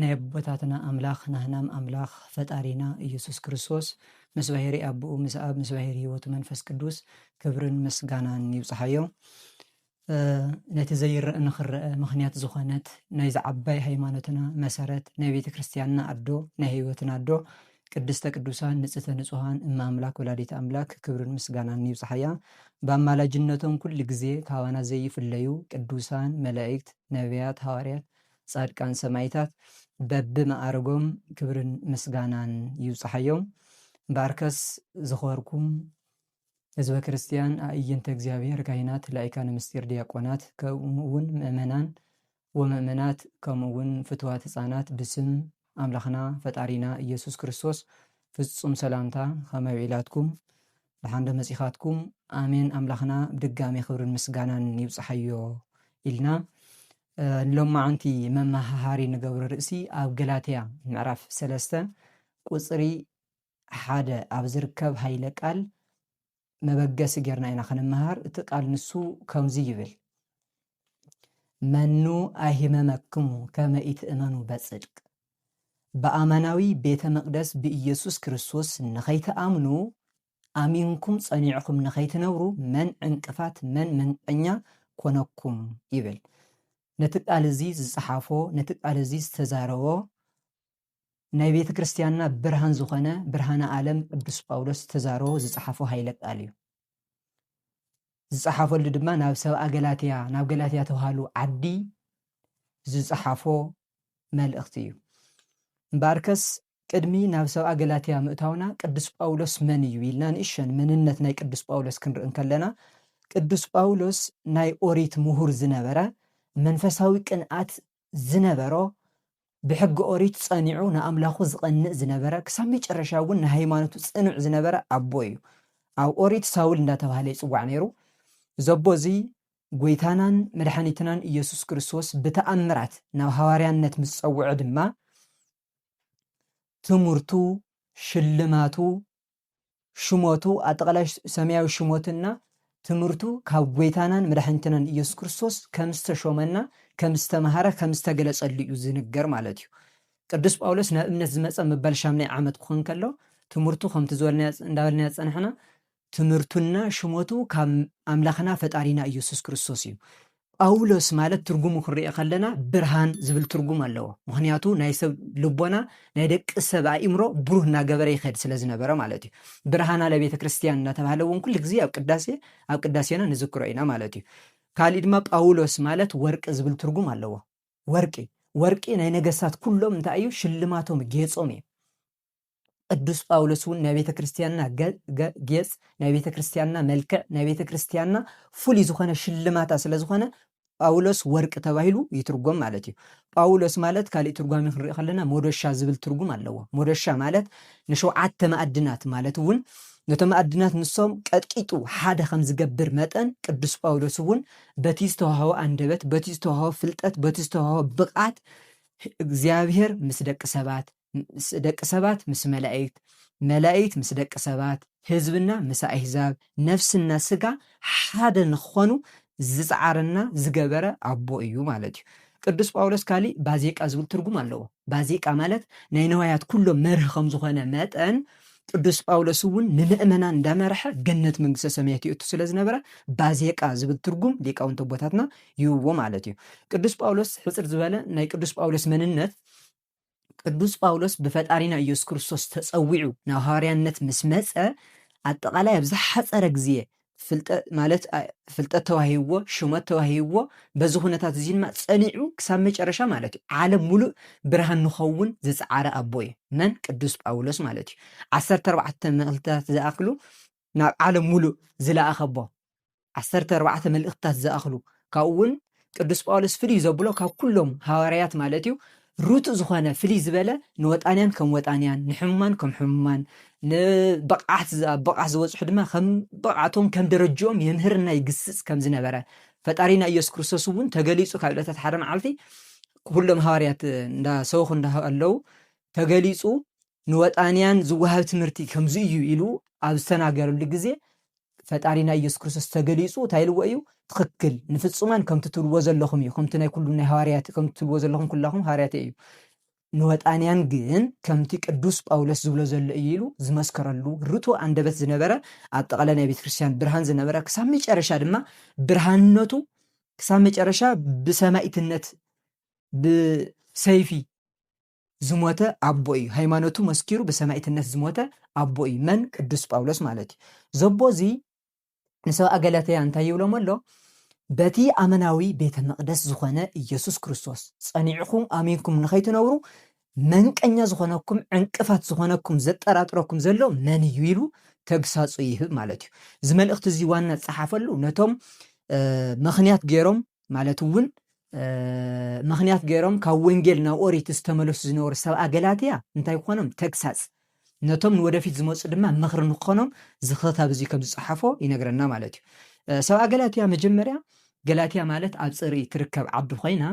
ናይ ኣቦታትና ኣምላኽ ናህናም ኣምላኽ ፈጣሪና ኢየሱስ ክርስቶስ ምስ ባሄሪ ኣቡኡ ምስ ኣብ ምስ ባሄሪ ሕይወቱ መንፈስ ቅዱስ ክብርን ምስጋናን ይብጽሓዮ። ነቲ ዘይረእ ንክረእ ምክንያት ዝኾነት ናይዚ ዓባይ ሃይማኖትና መሰረት ናይ ቤተ ክርስቲያንና ኣዶ ናይ ሕይወትና ኣዶ ቅድስተ ቅዱሳን ንጽህተ ንጹሃን እመ ኣምላክ ወላዲት ኣምላክ ክብርን ምስጋናን ይብጽሓያ። ብኣማላጅነቶም ኩሉ ግዜ ካባና ዘይፍለዩ ቅዱሳን መላእክት ነቢያት ሃዋርያት ፃድቃን ሰማይታት በቢ መኣርጎም ክብርን ምስጋናን ይብፃሓዮም እምበኣርከስ ዝኸበርኩም ህዝበ ክርስትያን ኣእይንተ እግዚኣብሔር ካህናት ላይካነ ምስጢር ድያቆናት ከምኡ እውን ምእመናን ወምእመናት ከምኡ እውን ፍትዋት ህፃናት ብስም ኣምላኽና ፈጣሪና እየሱስ ክርስቶስ ፍፁም ሰላምታ ኸመይ ውዒላትኩም ደሓን ዶ መፂኻትኩም ኣሜን ኣምላኽና ብድጋሜ ክብርን ምስጋናን ይብፃሓዮ ኢልና ሎማዓንቲ መማሃሃሪ ንገብሮ ርእሲ ኣብ ገላትያ ምዕራፍ ሰለስተ ቁጽሪ ሓደ ኣብ ዝርከብ ሃይለ ቃል መበገሲ ጌርና ኢና ክንመሃር እቲ ቃል ንሱ ከምዚ ይብል መኑ ኣይህመመክሙ ከመ ኢትእመኑ በጽድቅ ብኣማናዊ ቤተ መቅደስ ብኢየሱስ ክርስቶስ ንኸይትኣምኑ ኣሚንኩም ጸኒዕኹም ንኸይትነብሩ መን ዕንቅፋት መን መንቀኛ ኮነኩም ይብል ነቲ ቃል እዚ ዝጸሓፎ ነቲ ቃል እዚ ዝተዛረቦ ናይ ቤተ ክርስቲያንና ብርሃን ዝኾነ ብርሃነ ዓለም ቅዱስ ጳውሎስ ዝተዛረቦ ዝጸሓፎ ሃይለ ቃል እዩ ዝጸሓፈሉ ድማ ናብ ሰብኣ ገላትያ ናብ ገላትያ ተባሃሉ ዓዲ ዝጸሓፎ መልእኽቲ እዩ እምበኣርከስ ቅድሚ ናብ ሰብኣ ገላትያ ምእታውና ቅዱስ ጳውሎስ መን እዩ ኢልና ንእሸን መንነት ናይ ቅዱስ ጳውሎስ ክንርኢ እንከለና ቅዱስ ጳውሎስ ናይ ኦሪት ምሁር ዝነበረ መንፈሳዊ ቅንኣት ዝነበሮ ብሕጊ ኦሪት ጸኒዑ ንኣምላኹ ዝቐንእ ዝነበረ ክሳብ መጨረሻ እውን ንሃይማኖቱ ጽኑዕ ዝነበረ ኣቦ እዩ ኣብ ኦሪት ሳውል እንዳተባህለ ይጽዋዕ ነይሩ ዘቦ እዚ ጎይታናን መድሓኒትናን ኢየሱስ ክርስቶስ ብተኣምራት ናብ ሃዋርያነት ምስ ጸውዖ ድማ ትምህርቱ ሽልማቱ ሽሞቱ ኣጠቓላይ ሰማያዊ ሽሞትና ትምህርቱ ካብ ጎይታናን መድሓኒትናን ኢየሱስ ክርስቶስ ከም ዝተሾመና ከም ዝተምሃረ ከም ዝተገለጸሉ እዩ ዝንገር ማለት እዩ ቅዱስ ጳውሎስ ናብ እምነት ዝመጸ ምባል ሻምናይ ዓመት ክኾን ከሎ ትምህርቱ ከምቲ ዝበልናዮ እንዳበልናዮ ዝጸናሕና ትምህርቱና ሽመቱ ካብ ኣምላኽና ፈጣሪና ኢየሱስ ክርስቶስ እዩ። ጳውሎስ ማለት ትርጉሙ ክንሪኦ ከለና ብርሃን ዝብል ትርጉም ኣለዎ። ምኽንያቱ ናይ ሰብ ልቦና ናይ ደቂ ሰብ ኣእምሮ ብሩህ እናገበረ ይኸድ ስለ ዝነበረ ማለት እዩ። ብርሃና ለቤተ ክርስቲያን እናተባህለ እውን ኩሉ ግዜ ኣብ ቅዳሴ ኣብ ቅዳሴና ንዝክሮ ኢና ማለት እዩ። ካሊእ ድማ ጳውሎስ ማለት ወርቂ ዝብል ትርጉም ኣለዎ። ወርቂ ወርቂ ናይ ነገስታት ኩሎም እንታይ እዩ ሽልማቶም ጌጾም እዩ። ቅዱስ ጳውሎስ እውን ናይ ቤተ ክርስትያንና ጌጽ ናይ ቤተ ክርስትያንና መልክዕ ናይ ቤተ ክርስትያንና ፍሉይ ዝኾነ ሽልማታ ስለ ዝኾነ ጳውሎስ ወርቂ ተባሂሉ ይትርጎም ማለት እዩ ጳውሎስ ማለት ካልእ ትርጓሚ ክንርኢ ከለና ሞዶሻ ዝብል ትርጉም ኣለዎ ሞዶሻ ማለት ንሸውዓተ ማዕድናት ማለት እውን ነቶም ማዕድናት ንሶም ቀጥቂጡ ሓደ ከም ዝገብር መጠን ቅዱስ ጳውሎስ እውን በቲ ዝተዋህቦ ኣንደበት በቲ ዝተዋህቦ ፍልጠት በቲ ዝተዋህቦ ብቕዓት እግዚኣብሔር ምስ ደቂ ሰባት ደቂ ሰባት ምስ መላኢክት፣ መላኢክት ምስ ደቂ ሰባት፣ ህዝብና ምስ ኣህዛብ፣ ነፍስና ስጋ ሓደ ንክኾኑ ዝጸዓረና ዝገበረ ኣቦ እዩ ማለት እዩ። ቅዱስ ጳውሎስ ካሊእ ባዜቃ ዝብል ትርጉም ኣለዎ። ባዜቃ ማለት ናይ ነዋያት ኩሎም መርህ ከም ዝኾነ መጠን ቅዱስ ጳውሎስ እውን ንምእመናን እንዳመርሐ ገነት መንግስተ ሰማያት ይእቱ ስለ ዝነበረ ባዜቃ ዝብል ትርጉም ሊቃውንቲ ኣቦታትና ይህብዎ ማለት እዩ። ቅዱስ ጳውሎስ ሕጽር ዝበለ ናይ ቅዱስ ጳውሎስ መንነት ቅዱስ ጳውሎስ ብፈጣሪና ኢየሱስ ክርስቶስ ተጸዊዑ ናብ ሃዋርያነት ምስ መጸ ኣጠቓላይ ኣብ ዝሓጸረ ግዜ ፍልጠ ማለት ኣ- ፍልጠት ተዋሂብዎ ሹመት ተዋሂብዎ በዚ ኩነታት እዚ ድማ ጸኒዑ ክሳብ መጨረሻ ማለት እዩ ዓለም ሙሉእ ብርሃን ንኸውን ዝጸዓረ ኣቦ እዩ መን ቅዱስ ጳውሎስ ማለት እዩ ዓሰርተ ኣርባዕተ መልእኽትታት ዝኣኽሉ ናብ ዓለም ምሉእ ዝለኣኸቦ ዓሰርተ ኣርባዕተ መልእኽትታት ዝኣኽሉ ካብኡ እውን ቅዱስ ጳውሎስ ፍልይ ዘብሎ ካብ ኩሎም ሃዋርያት ማለት እዩ ርቱእ ዝኾነ ፍልይ ዝበለ ንወጣንያን ከም ወጣንያን ንሕሙማን ከም ሕሙማን ንብቕዓት ኣብ ብቕዓት ዝበፅሑ ድማ ከም ብቕዓቶም ከም ደረጅኦም የምህርና ይግስፅ ከም ዝነበረ ፈጣሪና ኢየሱስ ክርስቶስ እውን ተገሊፁ ካብ ዕለታት ሓደ መዓልቲ ኩሎም ሃዋርያት እንዳሰበኹ እንዳሃለዉ ተገሊፁ ንወጣንያን ዝወሃብ ትምህርቲ ከምዚ እዩ ኢሉ ኣብ ዝተናገረሉ ግዜ ፈጣሪና ኢየሱስ ክርስቶስ ተገሊጹ እንታይ ኢልዎ እዩ ትኽክል ንፍጹማን ከምቲ ትብልዎ ዘለኹም እዩ ከምቲ ናይ ኩሉም ናይ ሃዋርያት ከምቲ ትብልዎ ዘለኹም ኩላኹም ሃዋርያት እዩ ንወጣንያን ግን ከምቲ ቅዱስ ጳውሎስ ዝብሎ ዘሎ እዩ ኢሉ ዝመስከረሉ ርቱዕ ኣንደበት ዝነበረ ኣብ ጠቕለ ናይ ቤተ ክርስቲያን ብርሃን ዝነበረ ክሳብ መጨረሻ ድማ ብርሃንነቱ ክሳብ መጨረሻ ብሰማይትነት ብሰይፊ ዝሞተ ኣቦ እዩ ሃይማኖቱ መስኪሩ ብሰማኢትነት ዝሞተ ኣቦ እዩ መን ቅዱስ ጳውሎስ ማለት እዩ ዘቦ እዚ ንሰብኣ ገላትያ እንታይ ይብሎም ኣሎ በቲ ኣመናዊ ቤተ መቅደስ ዝኾነ ኢየሱስ ክርስቶስ ጸኒዕኹም ኣሚንኩም ንኸይትነብሩ መንቀኛ ዝኾነኩም ዕንቅፋት ዝኾነኩም ዘጠራጥረኩም ዘሎ መን እዩ ኢሉ ተግሳጹ ይህብ ማለት እዩ እዚ መልእኽቲ እዚ ዋና ዝጸሓፈሉ ነቶም ምኽንያት ገይሮም ማለት እውን ምኽንያት ገይሮም ካብ ወንጌል ናብ ኦሪት ዝተመለሱ ዝነበሩ ሰብኣ ገላትያ እንታይ ክኾኖም ተግሳጽ ነቶም ንወደፊት ዝመፁ ድማ ምኽሪ ንክኾኖም ዝኽታብ እዚ ከም ዝፀሓፎ ይነግረና ማለት እዩ ሰብኣ ገላትያ መጀመርያ ገላትያ ማለት ኣብ ፅርኢ ትርከብ ዓዲ ኮይና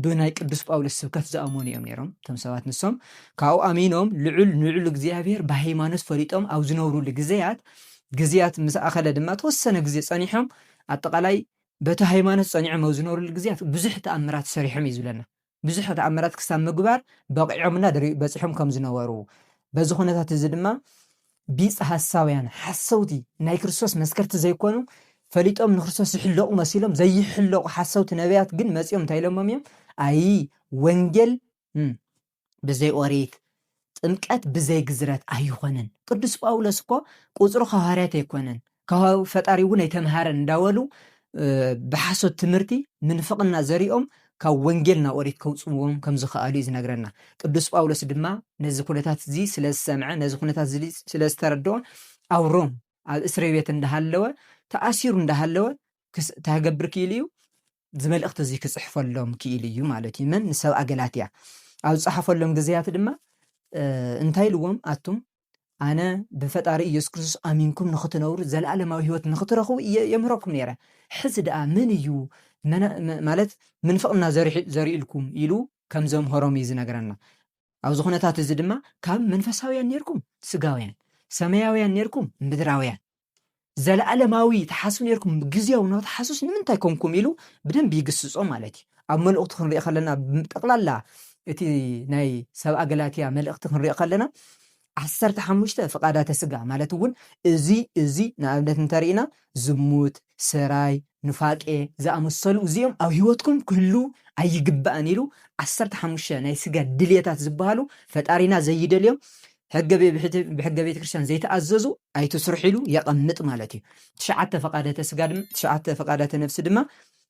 ብናይ ቅዱስ ጳውሎስ ስብከት ዝኣመኑ እዮም ነይሮም እቶም ሰባት ንሶም ካብኡ ኣሚኖም ልዑል ንልዑል እግዚኣብሄር ብሃይማኖት ፈሊጦም ኣብ ዝነብሩሉ ግዜያት ግዜያት ምስ ኣኸለ ድማ ተወሰነ ግዜ ጸኒሖም ኣጠቓላይ በቲ ሃይማኖት ጸኒዖም ኣብ ዝነበርሉ ግዝያት ብዙሕ ተኣምራት ሰሪሖም እዩ ዝብለና። ብዙሕ ተኣምራት ክሳብ ምግባር በቒዖምና ድሪ በጺሖም ከም ዝነበሩ በዚ ኩነታት እዚ ድማ ቢጽ ሐሳውያን ሐሰውቲ ናይ ክርስቶስ መስከርቲ ዘይኮኑ ፈሊጦም ንክርስቶስ ዝሕለቑ መሲሎም ዘይሕለቑ ሐሰውቲ ነቢያት ግን መጺኦም እንታይ ኢሎሞም እዮም ኣይ ወንጌል ብዘይ ኦሪት ጥምቀት ብዘይ ግዝረት ኣይኾነን ቅዱስ ጳውሎስ እኮ ቁጽሩ ከዋርያት ኣይኮነን ከዋው ፈጣሪ እውን ኣይተምሃረን እንዳበሉ ብሓሶት ትምህርቲ ምንፍቕና ዘሪኦም ካብ ወንጌል ናብ ኦሪት ከውፅዎም ከም ዝኸኣሉ እዩ ዝነግረና ቅዱስ ጳውሎስ ድማ ነዚ ኩነታት እዚ ስለ ዝሰምዐ ነዚ ኩነታት እዚ ስለ ዝተረድኦ ኣብ ሮም ኣብ እስሪ ቤት እንዳሃለወ ተኣሲሩ እንዳሃለወ ክስ ታገብር ክኢሉ እዩ እዚ መልእኽቲ እዚ ክጽሕፈሎም ክኢሉ እዩ ማለት እዩ። መን ንሰብኣ ገላትያ ኣብ ዝጸሓፈሎም ግዜያት ድማ እንታይ ኢልዎም ኣቱም ኣነ ብፈጣሪ ኢየሱስ ክርስቶስ ኣሚንኩም ንኽትነብሩ ዘለኣለማዊ ህይወት ንኽትረኽቡ እየ የምህረኩም ነይረ ሕዚ ደኣ መን እዩ ማለት ምንፍቕና ዘርእልኩም ኢሉ ከም ዘምሀሮም እዩ ዝነገረና ኣብዚ ኩነታት እዚ ድማ ካብ መንፈሳውያን ነርኩም ስጋውያን ሰማያውያን ነርኩም ምድራውያን ዘለኣለማዊ ተሓስብ ነርኩም ግዜያዊ ን ተሓስብስ ንምንታይ ኮንኩም ኢሉ ብደንቢ ይግስጾ ማለት እዩ ኣብ መልእኽቱ ክንሪኦ ከለና ጠቕላላ እቲ ናይ ሰብ ኣገላትያ መልእኽቲ ክንሪኦ ከለና ዓሰርተ ሓሙሽተ ፍቓዳተ ስጋ ማለት እውን እዚ እዚ ንኣብነት እንተርኢና ዝሙት ሰራይ ኑፋቄ ዝኣመሰሉ እዚኦም ኣብ ህይወትኩም ክህሉ ኣይግባእን ኢሉ ዓሰርተ ሓሙሽተ ናይ ስጋ ድልየታት ዝበሃሉ ፈጣሪና ዘይደልዮም ሕገ ብሕገ ቤተ ክርስቲያን ዘይተኣዘዙ ኣይትስርሑ ኢሉ የቐምጥ ማለት እዩ። ትሽዓተ ፈቃደተ ስጋ ድማ ትሽዓተ ፈቃዳተ ነፍሲ ድማ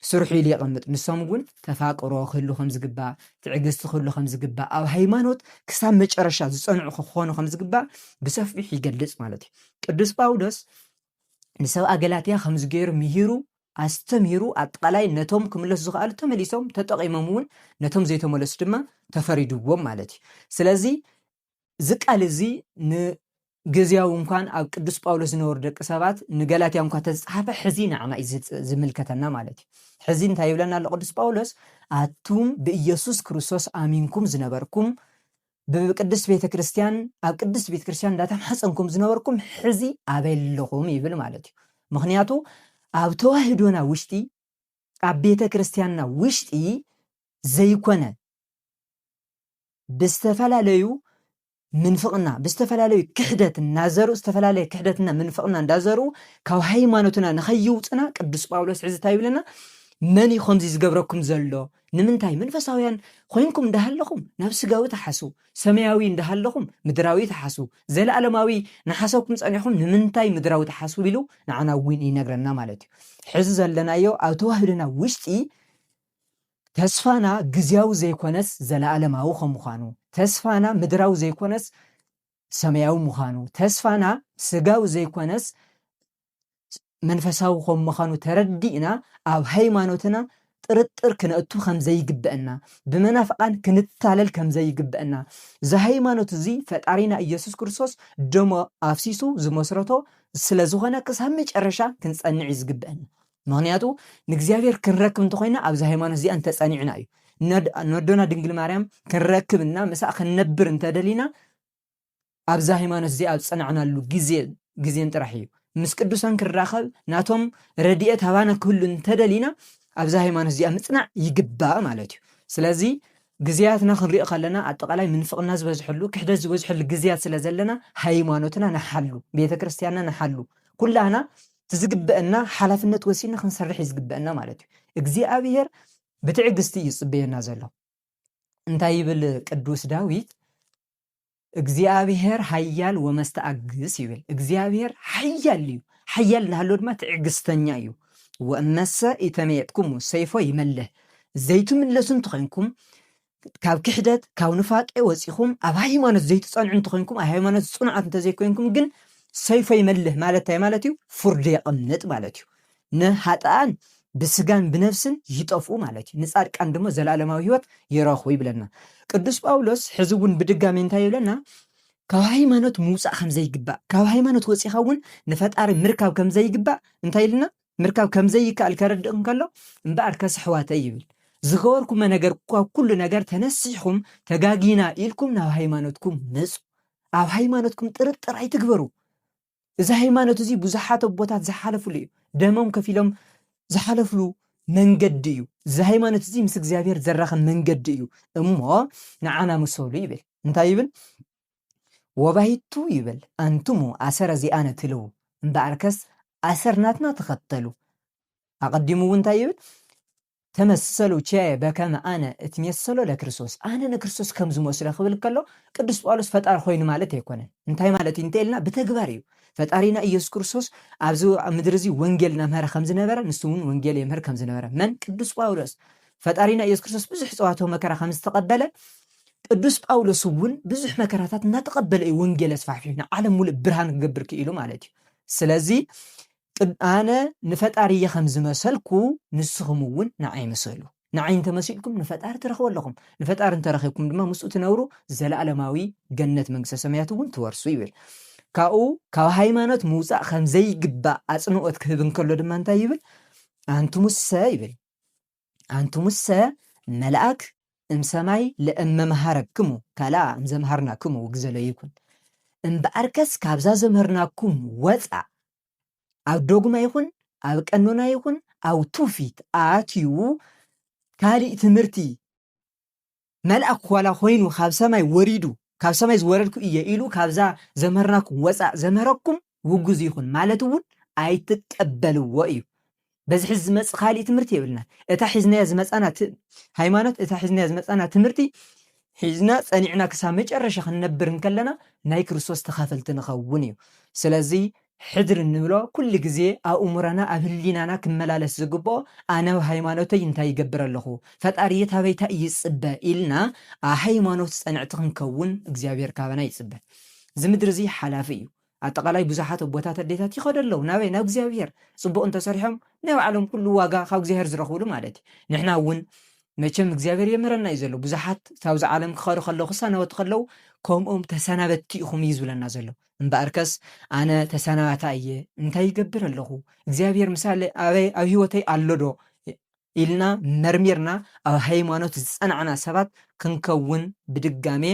ስርሑ ኢሉ የቐምጥ። ንሶም እውን ተፋቅሮ ክህሉ ከም ዝግባእ፣ ትዕግስቲ ክህሉ ከም ዝግባእ፣ ኣብ ሃይማኖት ክሳብ መጨረሻ ዝፀንዑ ክኾኑ ከም ዝግባእ ብሰፊሑ ይገልፅ ማለት እዩ። ቅዱስ ጳውሎስ ንሰብኣ ገላትያ ከምዚ ገይሩ ምሂሩ ኣስተምሂሩ ኣጠቓላይ ነቶም ክምለሱ ዝኸኣሉ ተመሊሶም ተጠቒሞም እውን ነቶም ዘይተመለሱ ድማ ተፈሪድዎም ማለት እዩ ስለዚ እዚ ቃል እዚ ንግዝያዊ እንኳን ኣብ ቅዱስ ጳውሎስ ዝነበሩ ደቂ ሰባት ንገላትያ እንኳ ተዝፀሓፈ ሕዚ ንዓና እዩ ዝምልከተና ማለት እዩ ሕዚ እንታይ ይብለና ኣሎ ቅዱስ ጳውሎስ ኣቱም ብኢየሱስ ክርስቶስ ኣሚንኩም ዝነበርኩም ብቅድስት ቤተ ክርስትያን ኣብ ቅድስት ቤተ ክርስትያን እንዳተማሕፀንኩም ዝነበርኩም ሕዚ ኣበይ ኣለኹም ይብል ማለት እዩ ምክንያቱ ኣብ ተዋህዶና ውሽጢ ኣብ ቤተ ክርስትያንና ውሽጢ ዘይኮነ ብዝተፈላለዩ ምንፍቕና ብዝተፈላለዩ ክሕደት እናዘሩ ዝተፈላለየ ክሕደትና ምንፍቕና እንዳዘሩ ካብ ሃይማኖትና ንኸይውፅና ቅዱስ ጳውሎስ ሕዚ እንታይ ይብለና መን እዩ ከምዚ ዝገብረኩም ዘሎ ንምንታይ መንፈሳውያን ኾይንኩም እንዳሃለኹም ናብ ስጋዊ ትሓስው፣ ሰማያዊ እንዳሃለኹም ምድራዊ ትሓስው፣ ዘለኣለማዊ ናሓሰብኩም ጸኒሕኹም ንምንታይ ምድራዊ ትሓስው ኢሉ ንዓና ውን ይነግረና ማለት እዩ። ሕዚ ዘለናዮ ኣብ ተዋህዶና ውሽጢ ተስፋና ግዝያዊ ዘይኮነስ ዘለኣለማዊ ከም ምዃኑ፣ ተስፋና ምድራዊ ዘይኮነስ ሰማያዊ ምዃኑ፣ ተስፋና ስጋዊ ዘይኮነስ መንፈሳዊ ከም ምዃኑ ተረዲእና ኣብ ሃይማኖትና ጥርጥር ክነእቱ ከም ዘይግበአና፣ ብመናፍቃን ክንታለል ከም ዘይግበአና፣ እዚ ሃይማኖት እዚ ፈጣሪና ኢየሱስ ክርስቶስ ደሙ ኣፍሲሱ ዝመስረቶ ስለ ዝኾነ ክሳብ መጨረሻ ክንጸንዕ እዩ ዝግበአና። ምክንያቱ ንእግዚኣብሔር ክንረክብ እንተኾይና ኣብዚ ሃይማኖት እዚኣ እንተጸኒዕና እዩ። ነድ- ነዶና ድንግል ማርያም ክንረክብና ምስኣ ክንነብር እንተደሊና ኣብዛ ሃይማኖት እዚኣ ኣብ ዝጸናዕናሉ ግዜን ግዜን ጥራሕ እዩ። ምስ ቅዱሳን ክንራኸብ ናቶም ረድኤት ሃባና ክህሉ እንተደሊና ኣብዛ ሃይማኖት እዚኣ ምጽናዕ ይግባእ ማለት እዩ። ስለዚ ግዜያትና ክንሪኦ ከለና ኣጠቓላይ ምንፍቕና ዝበዝሐሉ ክሕደት ዝበዝሐሉ ግዜያት ስለ ዘለና ሃይማኖትና ንሓሉ፣ ቤተ ክርስቲያንና ንሓሉ፣ ኩላህና እቲ ዝግበአና ሓላፍነት ወሲድና ክንሰርሕ እዩ ዝግበአና ማለት እዩ። እግዚኣብሄር ብትዕግስቲ እዩ ዝጽበየና ዘሎ። እንታይ ይብል ቅዱስ ዳዊት? እግዚኣብሄር ኃያል ወመስተኣግስ እዩ ይብል። እግዚኣብሄር ኃያል እዩ፣ ኃያል እናሃለወ ድማ ትዕግሥተኛ እዩ። ወእመሰ ኢተመየጥኩሙ ሰይፎ ይመልህ፣ ዘይትምለሱ እንተኾይንኩም ካብ ክሕደት ካብ ኑፋቄ ወፂኹም ኣብ ሃይማኖት ዘይትፀንዑ እንተኾይንኩም ኣብ ሃይማኖት ፅኑዓት እንተዘይኮይንኩም ግን ሰይፎ ይመልህ ማለት እንታይ ማለት እዩ? ፍርዱ የቐምጥ ማለት እዩ። ንኃጥኣን ብሥጋን ብነፍስን ይጠፍኡ ማለት እዩ፣ ንጻድቃን ድማ ዘለዓለማዊ ሕይወት ይረኽቡ ይብለና። ቅዱስ ጳውሎስ ሕዚ እውን ብድጋሜ እንታይ ይብለና? ካብ ሃይማኖት ምውጻእ ከም ዘይግባእ፣ ካብ ሃይማኖት ወጺኻ እውን ንፈጣሪ ምርካብ ከም ዘይግባእ እንታይ ኢልና? ምርካብ ከም ዘይከኣል ከረድእ እንከሎ እምበኣር ከስ ኣኅዋተይ ይብል ዝገበርኩሞ ነገር ካብ ኩሉ ነገር ተነሲሕኹም ተጋጊና ኢልኩም ናብ ሃይማኖትኩም ምጹ፣ ኣብ ሃይማኖትኩም ጥርጥር ኣይትግበሩ፣ እዚ ሃይማኖት እዚ ብዙሓት ኣቦታት ዝሓለፍሉ እዩ። ደሞም ከፊሎም ዝሓለፍሉ መንገዲ እዩ። እዚ ሃይማኖት እዚ ምስ እግዚኣብሔር ዘራኸብ መንገዲ እዩ እሞ ንዓና ምሰሉ ይብል። እንታይ ይብል? ወባይቱ ይብል ኣንትሙ ኣሰረ ዚኣነ ትልዉ እምበኣርከስ ኣሰር ናትና ተኸተሉ። ኣቐዲሙ እውን እንታይ ይብል? ተመሰሉ ቸ በከመ ኣነ እትሜሰሎ ለክርስቶስ፣ ኣነ ንክርስቶስ ከም ዝመስሎ ክብል ከሎ ቅዱስ ጳውሎስ ፈጣሪ ኮይኑ ማለት ኣይኮነን። እንታይ ማለት እዩ እንተ ኢልና ብተግባር እዩ። ፈጣሪና ኢየሱስ ክርስቶስ ኣብዚ ኣብ ምድሪ እዚ ወንጌል እናምሀረ ከም ዝነበረ ንሱ እውን ወንጌል የምህር ከም ዝነበረ መን ቅዱስ ጳውሎስ ፈጣሪና ኢየሱስ ክርስቶስ ብዙሕ ጸዋትወ መከራ ከም ዝተቐበለ ቅዱስ ጳውሎስ እውን ብዙሕ መከራታት እናተቐበለ እዩ ወንጌል ኣስፋሕፊሑ ንዓለም ሙሉእ ብርሃን ክገብር ክኢሉ ማለት እዩ። ስለዚ ቅድ ኣነ ንፈጣሪ እየ ከም ዝመሰልኩ ንስኹም እውን ንዓይ ምሰሉ። ንዓይ እንተ መሲልኩም ንፈጣሪ ትረኽቡ ኣለኹም። ንፈጣሪ እንተ ረኺብኩም ድማ ምስኡ ትነብሩ ዘለኣለማዊ ገነት መንግስተ ሰማያት እውን ትወርሱ ይብል። ካብኡ ካብ ሃይማኖት ምውጻእ ከም ዘይግባእ ኣጽንኦት ክህብ እንከሎ ድማ እንታይ ይብል? ኣንትሙሰ ይብል ኣንትሙሰ መላእክ እም ሰማይ ለእም መምሃረክሙ ካልኣ እም ዘምሃርናክሙ ውግዘ ለይኩን። እምበኣርከስ ካብዛ ዘምህርናኩም ወፃእ ኣብ ዶግማ ይኹን ኣብ ቀኖና ይኹን ኣብ ትውፊት ኣትዩ ካሊእ ትምህርቲ መልኣክ ዋላ ኮይኑ ካብ ሰማይ ወሪዱ ካብ ሰማይ ዝወረድኩ እየ ኢሉ ካብዛ ዘምህርናኩም ወፃእ ዘምህረኩም ውጉዝ ይኹን ማለት እውን ኣይትቀበልዎ እዩ። በዚ ሕዚ ዝመፅ ካሊእ ትምህርቲ የብልና እታ ሒዝናያ ዝመፃና ሃይማኖት እታ ሒዝናያ ዝመፃና ትምህርቲ ሒዝና ፀኒዕና ክሳብ መጨረሻ ክንነብር እንከለና ናይ ክርስቶስ ተኻፈልቲ ንኸውን እዩ ስለዚ ሕድሪ እንብሎ ኩሉ ግዜ ኣብ እሙረና ኣብ ህሊናና ክመላለስ ዝግብኦ ኣነ ኣብ ሃይማኖተይ እንታይ ይገብር ኣለኹ ፈጣሪየ ታበይ ታይ እዩ ዝፅበ ኢልና ኣብ ሃይማኖት ፀንዕቲ ክንከውን እግዚኣብሔር ካባና ይፅበ እዚ ምድሪ እዙይ ሓላፊ እዩ ኣጠቃላይ ብዙሓት ኣቦታት ኣዴታት ይኸዱ ኣለው ናበይ ናብ እግዚኣብሔር ፅቡቅ እንተሰሪሖም ናይ ባዕሎም ኩሉ ዋጋ ካብ እግዚኣብሔር ዝረኽብሉ ማለት እዩ ንሕና እውን መቸም እግዚኣብሔር የምህረና እዩ ዘሎ ብዙሓት ካብዚ ዓለም ክኸዱ ከለው ክሰናበቱ ከለው ከምኦም ተሰናበትቲ ኢኹም እዩ ዝብለና ዘሎ እምበኣርከስ ኣነ ተሰናባታይ እየ እንታይ ይገብር ኣለኹ እግዚኣብሔር ምሳለ ኣበይ ኣብ ህይወተይ ኣሎዶ ኢልና መርሚርና ኣብ ሃይማኖት ዝጸናዕና ሰባት ክንከውን ብድጋሜ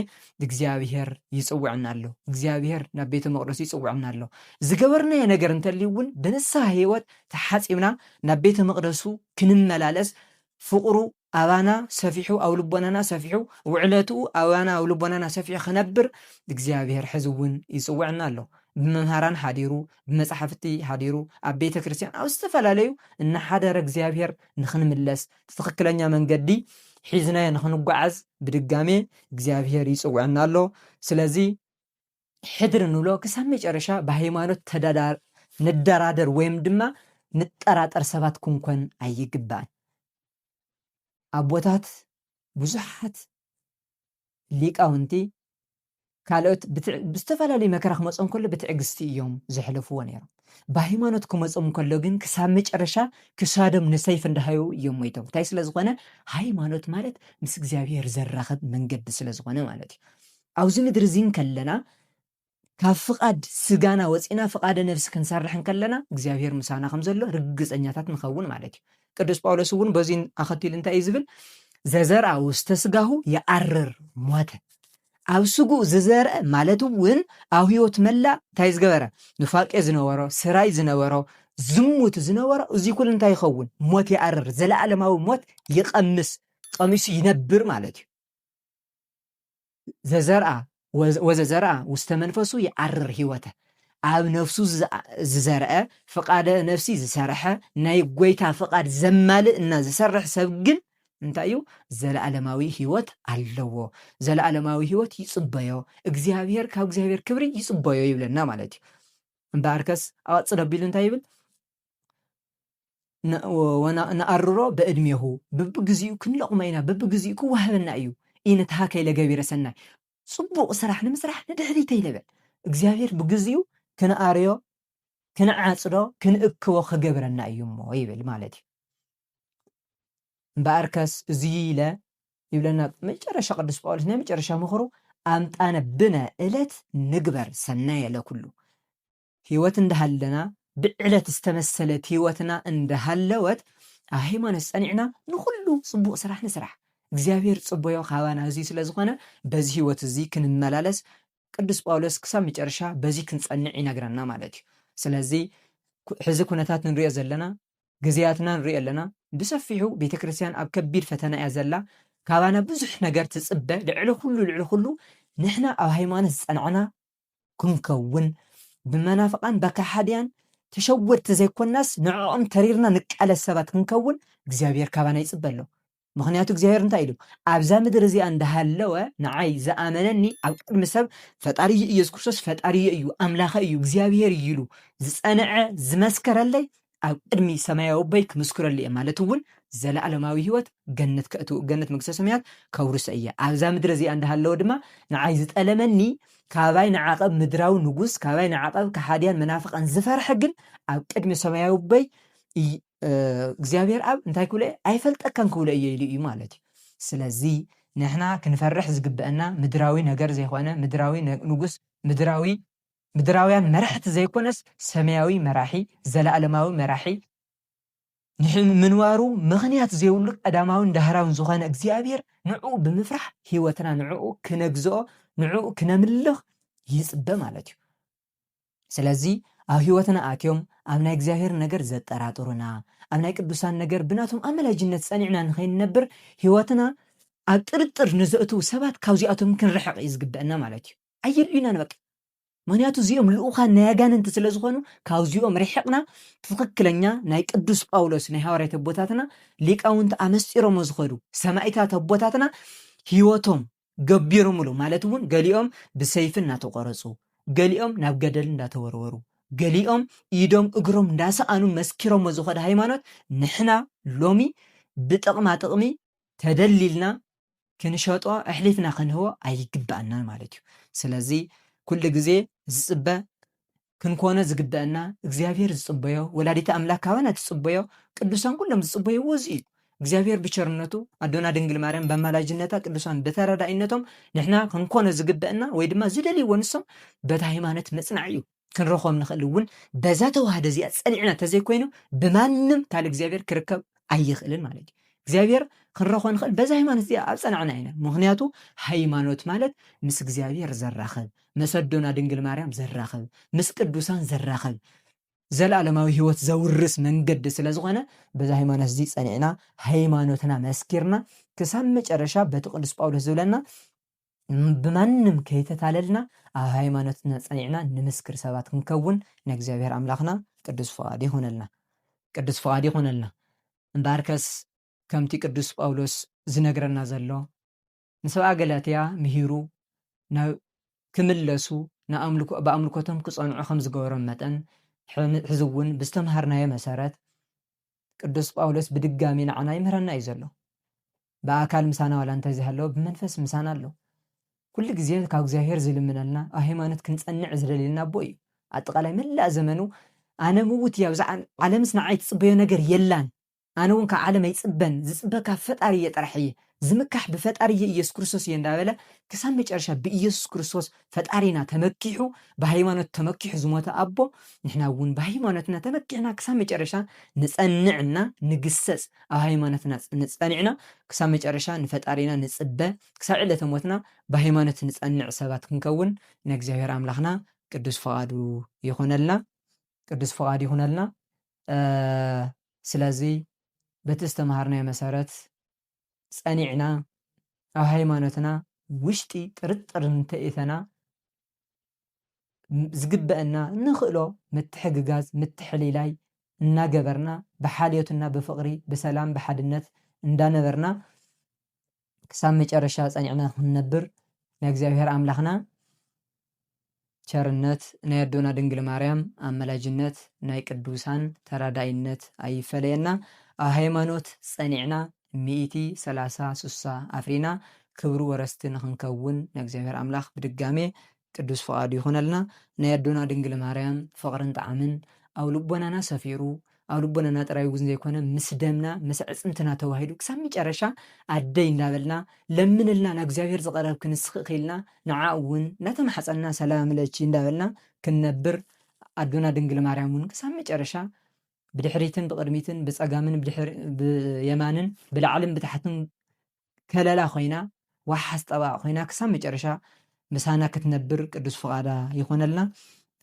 እግዚኣብሔር ይጽውዕና ኣሎ እግዚኣብሔር ናብ ቤተ መቅደሱ ይጽውዕና ኣሎ ዝገበርናዮ ነገር እንተልዩ እውን ብንስሐ ህይወት ተሓጺብና ናብ ቤተ መቅደሱ ክንመላለስ ፍቅሩ ኣባና ሰፊሑ ኣብ ልቦናና ሰፊሑ ውዕለትኡ ኣባና ኣብ ልቦናና ሰፊሑ ክነብር እግዚኣብሔር ሕዚ እውን ይፅውዕና ኣሎ። ብመምሃራን ሓዲሩ ብመፃሕፍቲ ሓዲሩ ኣብ ቤተ ክርስቲያን ኣብ ዝተፈላለዩ እናሓደረ እግዚኣብሔር ንክንምለስ ትኽክለኛ መንገዲ ሒዝናዮ ንክንጓዓዝ ብድጋሜ እግዚኣብሔር ይፅውዕና ኣሎ። ስለዚ ሕድሪ ንብሎ ክሳብ መጨረሻ ብሃይማኖት ተዳዳር ንደራደር ወይም ድማ ንጠራጠር ሰባት ክንኮን ኣይግባእን። ኣቦታት ብዙሓት ሊቃውንቲ ካልኦት ብዝተፈላለዩ መከራ ክመጾም ከሎ ብትዕግስቲ እዮም ዘሕለፍዎ ነይሮም። ብሃይማኖት ክመጾም ከሎ ግን ክሳብ መጨረሻ ክሳዶም ንሰይፍ እንዳሃዩ እዮም ሞይቶም። እንታይ ስለ ዝኾነ ሃይማኖት ማለት ምስ እግዚኣብሔር ዘራኽብ መንገዲ ስለ ዝኾነ ማለት እዩ። ኣብዚ ምድሪ እዚ እንከለና ካብ ፍቓድ ስጋና ወጺእና ፍቓደ ነፍሲ ክንሰርሕ እንከለና እግዚኣብሔር ምሳና ከም ዘሎ ርግጸኛታት ንኸውን ማለት እዩ። ቅዱስ ጳውሎስ እውን በዚ ኣኸቲሉ እንታይ እዩ ዝብል? ዘዘርኣ ውስተ ስጋሁ የኣርር ሞተ ኣብ ስጉ ዝዘርአ ማለት እውን ኣብ ህይወት መላእ እንታይ ዝገበረ ኑፋቄ ዝነበሮ ስራይ ዝነበሮ ዝሙት ዝነበሮ እዚ ኩሉ እንታይ ይኸውን ሞት ይኣርር ዘለኣለማዊ ሞት ይቐምስ ቀሚሱ ይነብር ማለት እዩ ዘዘርኣ ወዘዘርኣ ውስተ መንፈሱ ይዓርር ሕይወተ ኣብ ነፍሱ ዝዘርአ ፍቃደ ነፍሲ ዝሰርሐ ናይ ጎይታ ፍቃድ ዘማልእ እና ዝሰርሕ ሰብ ግን እንታይ እዩ ዘለዓለማዊ ሕይወት ኣለዎ ዘለዓለማዊ ሕይወት ይጽበዮ እግዚኣብሔር ካብ እግዚኣብሔር ክብሪ ይጽበዮ ይብለና ማለት እዩ እምበኣርከስ ኣቐጽል ኣቢሉ እንታይ ይብል ንኣርሮ በእድሜኹ ብብግዚኡ ክንለቕሞ ኢና ብብግዚኡ ክዋሃበና እዩ ኢንትሃ ከይለ ገቢረ ሰናይ ጽቡቕ ስራሕ ንምስራሕ ንድሕሪት ኣይንበል እግዚኣብሔር ብግዚኡ ክንኣርዮ ክንዓጽዶ ክንእክቦ ክገብረና እዩ እሞ ይብል ማለት እዩ እምበኣር ከስ እዙይ ኢለ ይብለና መጨረሻ ቅዱስ ጳውሎስ ናይ መጨረሻ ምኽሩ ኣምጣነ ብነ እለት ንግበር ሰናየ ለኩሉ ህይወት እንዳሃለና ብዕለት ዝተመሰለት ህይወትና እንዳሃለወት ኣብ ሃይማኖት ጸኒዕና ንኹሉ ጽቡቕ ስራሕ ንስራሕ። እግዚኣብሔር ጽቦዮ ካባና እዙይ ስለ ዝኾነ በዚ ህይወት እዙይ ክንመላለስ ቅዱስ ጳውሎስ ክሳብ መጨረሻ በዙይ ክንጸንዕ ይነግረና ማለት እዩ። ስለዚ ሕዚ ኩነታት ንሪኦ ዘለና ግዜያትና ንሪኦ ኣለና ብሰፊሑ ቤተ ክርስቲያን ኣብ ከቢድ ፈተና እያ ዘላ ካባና ብዙሕ ነገር ትጽበ ልዕሊ ኩሉ ልዕሊ ኩሉ ንሕና ኣብ ሃይማኖት ዝጸናዕና ክንከውን ብመናፍቃን በካሓድያን ተሸወድቲ ዘይኮናስ ንዕኦም ተሪርና ንቃለስ ሰባት ክንከውን እግዚኣብሔር ካባና ይጽበ ኣሎ ምክንያቱ እግዚኣብሔር እንታይ ኢሉ ኣብዛ ምድር እዚኣ እንዳሃለወ ንዓይ ዝኣመነኒ ኣብ ቅድሚ ሰብ ፈጣሪ እዩ ኢየሱስ ክርስቶስ ፈጣሪ እዩ ኣምላኸ እዩ እግዚኣብሔር እዩ ኢሉ ዝጸንዐ ዝመስከረለይ ኣብ ቅድሚ ሰማያዊ ኣቦይ ክምስክረሉ እየ ማለት እውን ዘለኣለማዊ ህይወት ገነት ከእትው ገነት መንግስተ ሰማያት ከውርሶ እየ ኣብዛ ምድሪ እዚኣ እንዳሃለወ ድማ ንዓይ ዝጠለመኒ ካባይ ንዓቐብ ምድራዊ ንጉስ ካባይ ንዓቐብ ከሓድያን መናፍቃን ዝፈርሐ ግን ኣብ ቅድሚ ሰማያዊ ኣቦይ እግዚኣብሔር ኣብ እንታይ ክብሎ እየ ኣይፈልጠካን ክብሎ እየ ኢሉ እዩ ማለት እዩ ስለዚ ንሕና ክንፈርሕ ዝግበአና ምድራዊ ነገር ዘይኮነ ምድራዊ ንጉስ ምድራዊ ምድራውያን መራሕቲ ዘይኮነስ ሰማያዊ መራሒ፣ ዘለኣለማዊ መራሒ፣ ንምንባሩ ምኽንያት ዘይብሉ ቀዳማውን ዳህራውን ዝኾነ እግዚኣብሔር ንዕኡ ብምፍራሕ ሕይወትና ንዕኡ ክነግዝኦ ንዕኡ ክነምልኽ ይጽበ ማለት እዩ። ስለዚ ኣብ ሕይወትና ኣትዮም ኣብ ናይ እግዚኣብሔር ነገር ዘጠራጥሩና፣ ኣብ ናይ ቅዱሳን ነገር ብናቶም ኣመላጅነት ጸኒዕና ንኸይንነብር ሕይወትና ኣብ ጥርጥር ንዘእትዉ ሰባት ካብዚኣቶም ክንርሕቕ እዩ ዝግበአና ማለት እዩ። ኣየድልዩናን በቃ ምክንያቱ እዚኦም ልኡኻን ናይ ኣጋንንቲ ስለ ዝኾኑ ካብዚኦም ርሒቕና ትኽክለኛ ናይ ቅዱስ ጳውሎስ ናይ ሃዋርያት ኣቦታትና ሊቃውንቲ ኣመስጢሮሞ ዝኸዱ ሰማይታት ኣቦታትና ህይወቶም ገቢሮምሉ ማለት እውን ገሊኦም ብሰይፊ እናተቆረፁ ገሊኦም ናብ ገደል እንዳተወርወሩ ገሊኦም ኢዶም እግሮም እንዳሰኣኑ መስኪሮሞ ዝኸዱ ሃይማኖት ንሕና ሎሚ ብጥቕማ ጥቕሚ ተደሊልና ክንሸጦ ኣሕሊፍና ክንህቦ ኣይግበኣናን ማለት እዩ። ስለዚ ኩሉ ግዜ ዝጽበ ክንኮኖ ዝግበአና እግዚኣብሔር ዝጽበዮ ወላዲተ ኣምላክ ካባና ትጽበዮ ቅዱሳን ኩሎም ዝጽበይዎ እዚ እዩ። እግዚኣብሔር ብቸርነቱ ኣዶና ድንግል ማርያም በማላጅነታ ቅዱሳን በተረዳኢነቶም ንሕና ክንኮኖ ዝግበአና ወይ ድማ ዝደልይዎ ንሶም በታ ሃይማኖት መጽናዕ እዩ። ክንረኽቦም ንኽእል እውን በዛ ተዋህዶ እዚኣ ጸኒዕና ተዘይኮይኑ ብማንም ካል እግዚኣብሔር ክርከብ ኣይኽእልን ማለት እዩ እግዚኣብሔር ክንረኽቦ ንኽእል በዛ ሃይማኖት እዚኣ ኣብ ጸናዕና ኢና ምክንያቱ ሃይማኖት ማለት ምስ እግዚኣብሔር ዘራኽብ ምስ ኣዶና ድንግል ማርያም ዘራኽብ ምስ ቅዱሳን ዘራኽብ ዘለዓለማዊ ህይወት ዘውርስ መንገዲ ስለ ዝኾነ በዚ ሃይማኖት እዚ ጸኒዕና ሃይማኖትና መስኪርና ክሳብ መጨረሻ በቲ ቅዱስ ጳውሎስ ዝብለና ብማንም ከይተታለልና ኣብ ሃይማኖትና ጸኒዕና ንምስክር ሰባት ክንከውን ናይ እግዚኣብሔር ኣምላኽና ቅዱስ ፍቓድ ይኹነልና ቅዱስ ፍቓድ ይኹነልና እምበኣርከስ ከምቲ ቅዱስ ጳውሎስ ዝነግረና ዘሎ ንሰብኣ ገላትያ ምሂሩ ናብ ክምለሱ ንኣምልኮ ብኣምልኮቶም ክጸንዑ ከም ዝገበሮም መጠን ሕዚ እውን ብዝተምሃርናዮ መሰረት ቅዱስ ጳውሎስ ብድጋሚ ንዓና ይምህረና እዩ ዘሎ ብኣካል ምሳና ዋላ እንተዘይሃለወ ብመንፈስ ምሳና ኣሎ። ኩሉ ግዜ ካብ እግዚኣብሔር ዝልምነልና ኣብ ሃይማኖት ክንጸንዕ ዝደልየልና ኣቦ እዩ። ኣጠቓላይ መላእ ዘመኑ ኣነ ምውት እየ ኣብዛ ዓለምስ ንዓይ ትጽበዮ ነገር የላን ኣነ እውን ካብ ዓለም ኣይጽበን ዝጽበ ካብ ፈጣሪ እየ ጥራሕ እየ ዝምካሕ ብፈጣሪ እየ ኢየሱስ ክርስቶስ እየ እንዳበለ ክሳብ መጨረሻ ብኢየሱስ ክርስቶስ ፈጣሪና ተመኪሑ ብሃይማኖት ተመኪሑ ዝሞተ ኣቦ ንሕና እውን ብሃይማኖትና ተመኪሕና ክሳብ መጨረሻ ንፀንዕ እና ንግሰፅ ኣብ ሃይማኖትና ንፀኒዕና ክሳብ መጨረሻ ንፈጣሪና ንፅበ ክሳብ ዕለተ ሞትና ብሃይማኖት ንፀንዕ ሰባት ክንከውን ናይ እግዚኣብሔር ኣምላክና ቅዱስ ፍቃዱ ይኩነልና ቅዱስ ፍቃድ ይኩነልና ስለዚ በቲ ዝተምሃርናዮ መሰረት ጸኒዕና ኣብ ሃይማኖትና ውሽጢ ጥርጥር እንተኢተና ዝግበእና እንኽእሎ ምትሕግጋዝ ምትሕሊላይ እናገበርና ብሓልዮት እና ብፍቕሪ ብሰላም ብሓድነት እንዳነበርና ክሳብ መጨረሻ ጸኒዕና ክንነብር ንእግዚኣብሔር ኣምላኽና ቸርነት ናይ ኣዶና ድንግል ማርያም ኣመላጅነት ናይ ቅዱሳን ተራዳኢነት ኣይፈለየና ኣብ ሃይማኖት ጸኒዕና ሚእቲ ሰላሳ ሱሳ ኣፍሪና ክብሩ ወረስቲ ንክንከውን ናይ እግዚኣብሔር ኣምላክ ብድጋሜ ቅዱስ ፍቃዱ ይኩነልና ናይ ኣዶና ድንግል ማርያም ፍቅርን ጣዕምን ኣብ ልቦናና ሰፊሩ ኣብ ልቦናና ጥራይ እውን ዘይኮነ ምስ ደምና ምስ ኣዕጽምትና ተዋሂዱ ክሳብ መጨረሻ ኣደይ እንዳበልና ለምንልና ናብ እግዚኣብሔር ዝቐረብ ክንስክክ ኢልና ንዓኡ እውን እንዳተማሕጸንና ሰላም ለኪ እንዳበልና ክንነብር ኣዶና ድንግል ማርያም እውን ክሳብ መጨረሻ ብድሕሪትን ብቕድሚትን ብጸጋምን ብየማንን ብላዕልን ብታሕትን ከለላ ኮይና ዋሓስ ጠበቓ ኮይና ክሳብ መጨረሻ ምሳና ክትነብር ቅዱስ ፍቓዳ ይኹነልና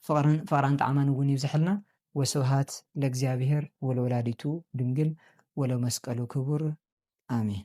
ፍቕርን ፍቕራን ጣዕማን እውን ይብዘሐልና ወስብሃት ለእግዚኣብሔር ወለወላዲቱ ድንግል ወለመስቀሉ ክቡር ኣሜን።